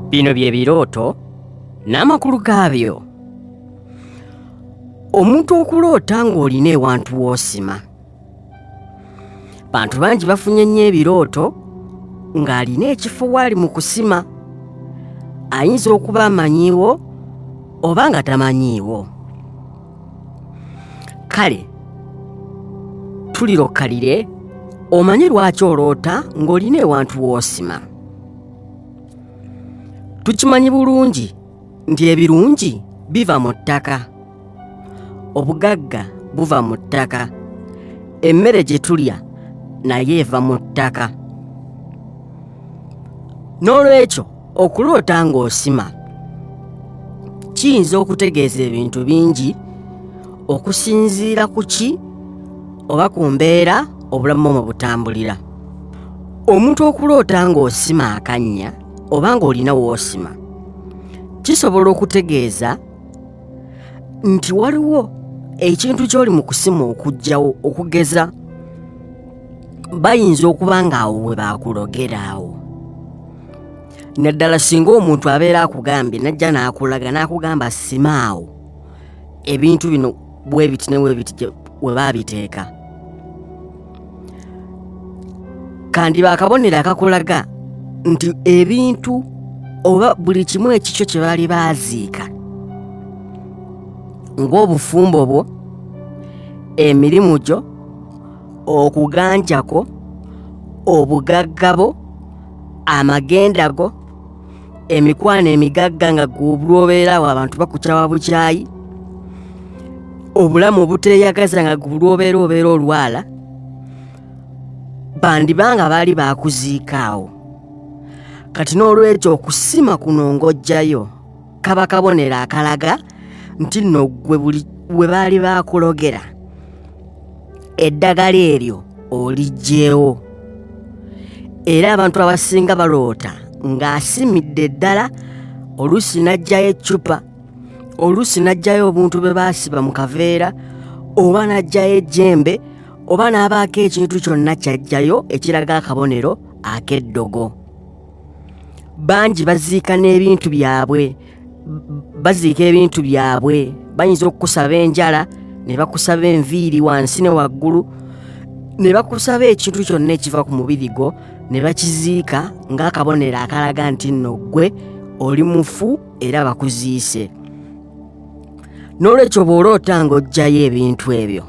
Bino bye birooto n'amakulu gaabyo. Omuntu okuloota ng'olina ewantu w'osima. bantu bangi bafunye nnyo ebirooto ng'alina ekifo waali mu kusima ayinza okuba amanyiiwo oba nga tamanyiiwo kale tulirokalire omanyi lwaki oloota ng'olina ewantu woosima tukimanyi bulungi nti ebirungi biva mu ttaka obugagga buva mu ttaka emmere gye tulya naye eva mu ttaka n'olwekyo okuloota ng'osima kiyinza okutegeeza ebintu bingi okusinziira ku ki oba ku mbeera obulamu mwe butambulira omuntu okuloota ng'osima akannya oba ng'olina woosima kisobola okutegeeza nti waliwo ekintu ky'oli mu kusima okugyawo okugeza bayinza okuba ng'awo we baakulogera awo naddala singa omuntu abeera akugambye najja n'akulaga n'akugamba simaawo ebintu bino bwe biti ne bwe biti we baabiteeka kandiba akabonero akakulaga nti ebintu oba buli kimu ekikyo kye baali baaziika ng'obufumbo bwo emirimu gyo okuganjako obugaggabo amagenda go emikwano emigagga nga gwobulwobeerawo abantu bakukyawa bukyayi obulamu obuteyagaza nga gwobulwobeera obeera olwala bandibanga baali bakuziikaawo kati n'olwekyo okusima kuno ng'ojjayo kaba kabonero akalaga nti nno gwe buli we baali bakulogera eddagala eryo oliggyewo era abantu abasinga baloota ng'asimidde eddala oluusi n'aggyayo eccupa oluusi n'aggyayo obuntu bwe baasiba mu kaveera oba n'aggyayo ejjembe oba n'abaako ekintu kyonna ky'aggyayo ekiraga akabonero ak'eddogo bangi baziika n'ebintu byabwe baziika ebintu byabwe bayinza okukusaba enjala ne bakusaba enviiri wansi ne waggulu ne bakusaba ekintu kyonna ekiva ku mubiri gwo ne bakiziika ng'akabonero akalaga nti nno ggwe oli mufu era bakuziise n'olwekyo bw'oloota ng'oggyayo ebintu ebyo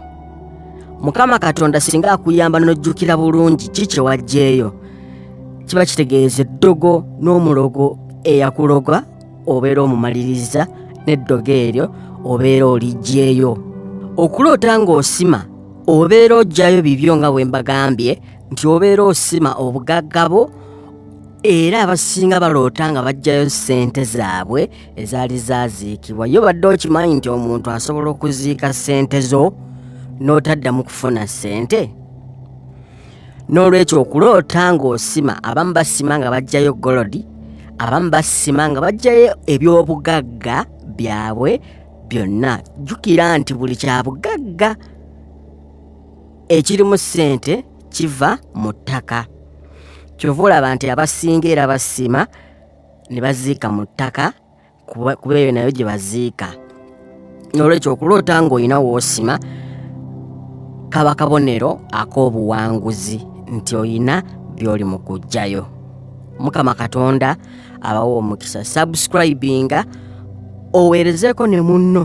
mukama katonda singa akuyamba n'ojjukira bulungi ki kye waggyeyo kiba kitegeeza eddogo n'omulogo eyakuloga obeera omumaliriza n'eddogo eryo obeera oliggyeyo okuloota ng'osima obeera oggyayo bibyo nga bwe mbagambye nti obeera osima obugagga bwo era abasinga baloota nga baggyayo ssente zaabwe ezaali zaaziikibwa yo badde okimanyi nti omuntu asobola okuziika ssente zo n'otaddamu kufuna ssente n'olwekyo okuloota ng'osima abamu basima nga bajjayo golodi abamu basima nga bajjayo ebyobugagga byabwe byonna jjukira nti buli kyabugagga ekirimu ssente kiva mu ttaka kyova olaba nti abasinga era basima ne baziika mu ttaka kuba kuba eyo nayo gye baziika n'olwekyo okuloota ng'olina w'osima kaba kabonero ak'obuwanguzi nti olina by'oli mu kuggyayo mukama katonda abawa omukisa subscribinga oweerezeeko ne munno